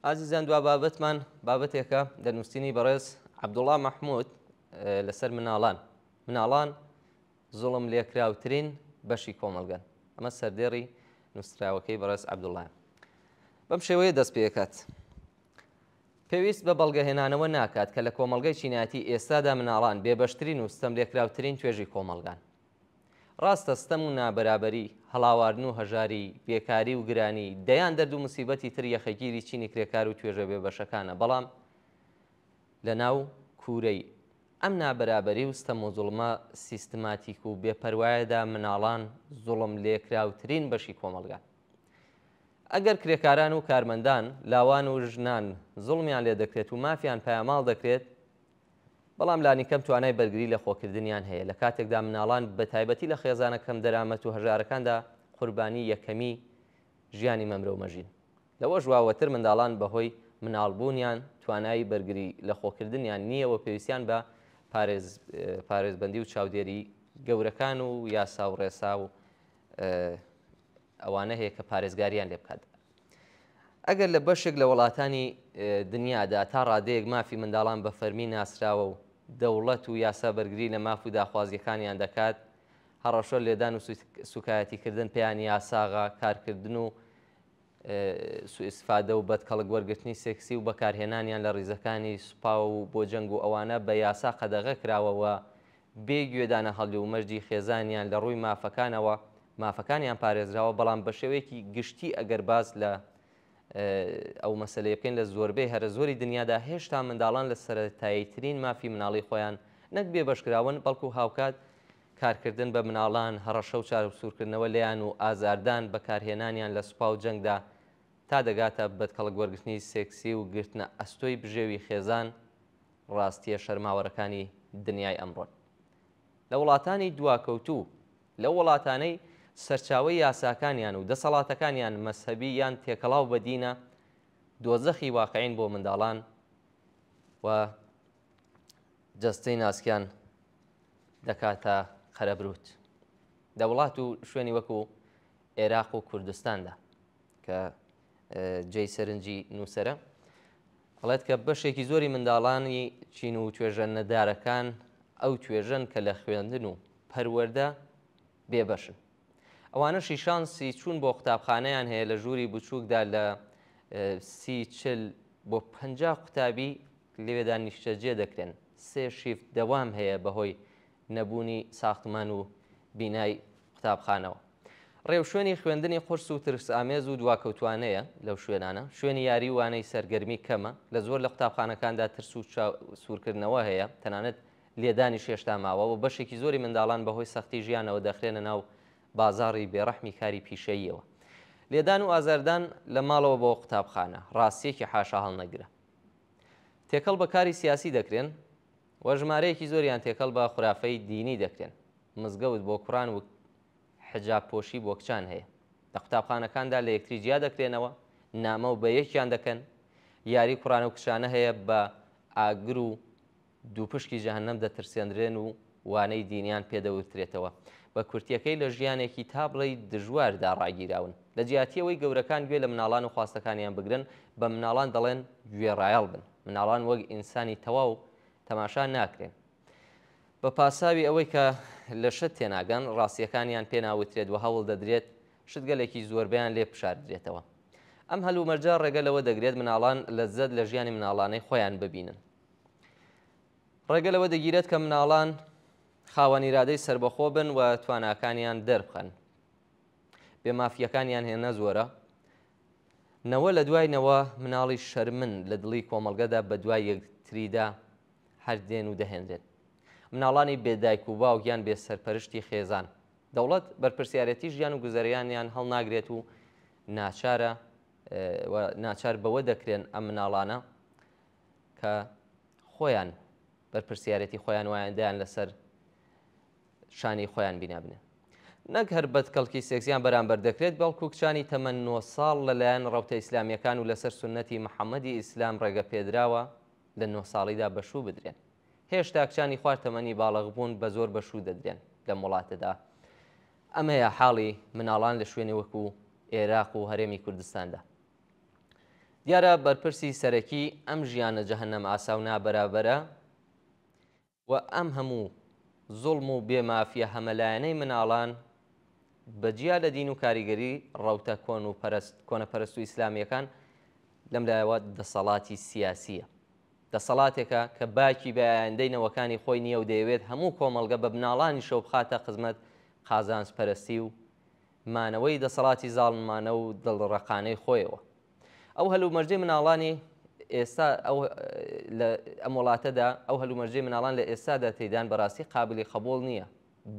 ئازیزان دوا بابەتمان بابەتێکە دەنووسینی بەڕێز عەبدوڵا مەحمود لەسەر مناڵان مناڵان زوڵم لێکراوترین بەشی کۆمەلگەن ئەمە سەردێڕی نووسراوەکەی بەڕێز عەبدوڵای بەم شێوەیە دەست پێکات پێویست بە بەڵگەهێنانەوە ناکات کە لە کۆمەلگای چینایەتی ئێستادا مناڵان بێبەشترین و ستەم لێکراوترین توێژی کۆمەلگان ڕاستە ستەم و نابەرابەری، هەڵاواردن و هەژاری، بێکاری و گرانی، دەیان دەرد و موسیبەتی تر یەخەگیری چینی کرێکار و توێژە بێبەشەکانە، بەڵام لە ناو کوورەی ئەم نابەرابەری و ستەم و زوڵمە سیستماتیک و بێ پەروایەدا مناڵان زوڵم لێکراوترین بەشی کۆمەڵگان. ئەگەر کرێکاران و کارمەندان، لاوان و ژنان زوڵمیان لێ دەکرێت و مافیان پایەماڵ دەکرێت، بەڵام لانیکەم توانای بەرگری لە خۆکردنیان هەیە، لە کاتێکدا منداڵان بە تایبەتی لە خێزانە کەم دەرامەت و هەژارەکاندا قوربانی یەکەمی ژیانی مەمرەو مەژین. لەوەش واوەتر منداڵان بە هۆی منداڵ بوونیان توانای بەرگری لە خۆکردنیان نییە و پێویستیان بە پارێزبەندی و چاودێری گەورەکان و یاسا و ڕێسا و ئەوانە هەیە کە پارێزگاریان لێ بکات. ئەگەر لە بەشێک لە وڵاتانی دنیادا تا ڕادەیەک مافی منداڵان بە فەرمی ناسراوە و دەوڵەت و یاسا بەرگری لە ماف و داخوازییەکانیان دەکات، هەڕەشە، لێدان و سووکایەتیکردن پێیان یاساغە، کارکردن و سوئیستفادە و بەدکەڵک وەرگرتنی سێکسی و بەکارهێنانیان لە ڕیزەکانی سوپا و بۆ جەنگ و ئەوانە بە یاسا قەدەغە کراوە و بێ گوێدانە هەڵی و مەرجی خێزانیان لە ڕووی مافەکانەوە مافەکانیان پارێزراوە بەڵام بەشێوەیەکی گشتی ئەگەر باس لە ئەو مەسەلەیە بکەین لە زۆربەی هەرە زۆری دنیادا هێشتا منداڵان لە سەرەتاییترین مافی مناڵی خۆیان نەک بێبەشکراون بەڵکو هاوکات کارکردن بە مناڵان هەڕەشە و چارەسوورکردنەوە لێیان و ئازاردان بەکارهێنانیان لە سوپا و جەنگدا تا دەگاتە بەدکەڵک وەرگرتنی سێکسی و گرتنە ئەستۆی بژێوی خێزان ڕاستیە شەرماوەرەکانی دنیای ئەمڕۆن لە وڵاتانی دواکەوتوو لەو وڵاتانەی سەرچاوەی یاساکانیان و دەسەڵاتەکانیان مەزهەبی یان تێکەڵاو بە دینە، دۆزەخی واقعین بۆ منداڵان و جەستەی ناسکیان دەکاتە قەرەبرووت. لە وڵات و شوێنی وەکو ئێراق و کوردستاندا کە جێی سەرنجی نووسەرە، ئەڵێت کە بەشێکی زۆری منداڵانی چین و توێژە نەدارەکان ئەو توێژەن کە لە خوێندن و پەروەردە بێبەشن. ئەوانەشی شانسی چوون بۆ قوتابخانەیان هەیە لە ژووری بچووکدا لە سی چل بۆ پەنجا قوتابی لەوێدا نیشتەجێ دەکرێن سێ شیفت دەوام هەیە بەهۆی نەبوونی ساختمان و بینای قوتابخانەوە. رێوشوێنی خوێندنی قورس و ترسئامێز و دواکەوتوانەیە لەو شوێنانە. شوێنی یاری و وانەی سەرگەرمی کەمە. لە زۆر لە قوتابخانەکاندا ترس و چاوسوورکردنەوە هەیە، تەنانەت لێدانیش هێشتا ماوە و بەشێکی زۆری منداڵان بەهۆی سەختی ژیانەوە دەخرێنە ناو بازاڕی بێڕەحمی کاری پیشەییەوە. لێدان و ئازاردان لە ماڵەوە بۆ قوتابخانە، راستییەکی حاشاهەڵنەگرە. تێکەڵ بە کاری سیاسی دەکرێن. وە ژمارەیەکی زۆریان تێکەڵ بە خورافەی دینی دەکرێن، مزگەوت بۆ کوڕان وک حجاب پۆشی بۆ کچان هەیە، لە قوتابخانەکاندا لە یەکتری جیا دەکرێنەوە، نامە و بە یەکیان دەکەن، یاری کوڕان و کچانە هەیە، بە ئاگر و دووپشکی جەهەنەم دەترسێندرێن و وانەی دینیان پێ دەوترێتەوە، بە کورتیەکەی لە ژیانێکی تا بڵێی دژواردا ڕاگیراون، لە جیاتی ئەوەی گەورەکان گوێ لە مناڵان و خواستەکانیان بگرن، بە مناڵان دەڵێن گوێڕایەڵ بن. مناڵان وەک ئینسانی تەواو تەماشا ناکرێن. بە پاساوی ئەوەی کە لە شت تێناگەن، ڕاستییەکانیان پێ ناوترێت و هەوڵ دەدرێت شتگەلێکی زۆربەیان لێ بشاردرێتەوە. ئەم هەلومەرجە ڕێگە لەوە دەگرێت مناڵان لەززەت لە ژیانی مناڵانەی خۆیان ببینن. ڕێگە لەوە دەگیرێت کە مناڵان خاوەن ئیرادەی سەربەخۆ بن و تواناکانیان دەربخەن. بێمافییەکانیان هێنە زۆرە، نەوە لە دوای نەوە مناڵی شەرمن لە دڵی کۆمەڵگەدا بە دوای یەکتریدا هەردێن و دەهێنرێن مناڵانی بێدایک و باو گیان بێ سەرپەرشتی خێزان دەوڵەت بەرپرسیارەتی ژیان و گوزەریانیان هەڵناگرێت و ناچارە ناچار بەوە دەکرێن ئەم مناڵانە کە خۆیان بەرپرسیارەتی خۆیان وایەندەیان لەسەر شانەی خۆیان بینابنێ نەک هەر بەدکەڵکی سێکسیان بەرامبەر دەکرێت بەڵکو کچانی تەمەن نۆ ساڵ لەلایەن ڕەوتە ئیسلامیەکان و لەسەر سونەتی محەمەدی ئیسلام ڕێگە پێدراوە لە نۆ ساڵیدا بەشوو بدرێن هێشتا کچانی خوار تەمەنی باڵغبوون بە زۆر بەشوو دەدرێن لەم وڵاتەدا ئەمەیە حاڵی مناڵان لە شوێنی وەکو ئێراق و هەرێمی کوردستاندا دیارە بەرپرسی سەرەکی ئەم ژیانە جەهنەم ئاساو نابەرابەرە و ئەم هەموو زوڵم و بێ مافیە هەمەلایەنەی مناڵان بە جیا لە دین و کاریگەری ڕەوتە کۆن و پەرەست کۆنە پەرەست و ئیسلامیەکان لەم لایەوە دەسەڵاتی سیاسیە دەسەڵاتێکە کە باکی بە ئایندەی نەوەکانی خۆی نیە و دەیەوێت هەموو کۆمەڵگە بە مناڵانیشەوە بخاتە خزمەت قازانج پەرەستی و مانەوەی دەسەڵاتی زاڵمانە و دڵ ڕەقانەی خۆیەوە. ئەو هەلومەرجەی مناڵانی ئێستا ئەم وڵاتەدا ئەو هەلومەرجەی مناڵان لە ئێستادا تێدان بەڕاستی قابلی قبول نییە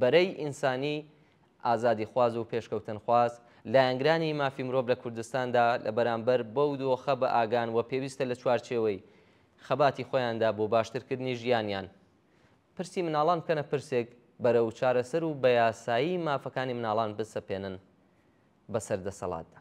بەرەی ئینسانی ئازادی خواز و پێشکەوتن خواز لایەنگرانی مافی مرۆڤ لە کوردستاندا لە بەرامبەر بەو دۆخە بە ئاگان و پێویستە لە چوارچێوەی خەباتی خۆیاندا بۆ باشترکردنی ژیانیان پرسی مناڵان بکەنە پرسێک بەرە و چارەسەر و بە یاسایی مافەکانی مناڵان بسەپێنن بەسەر دەسەڵاتدا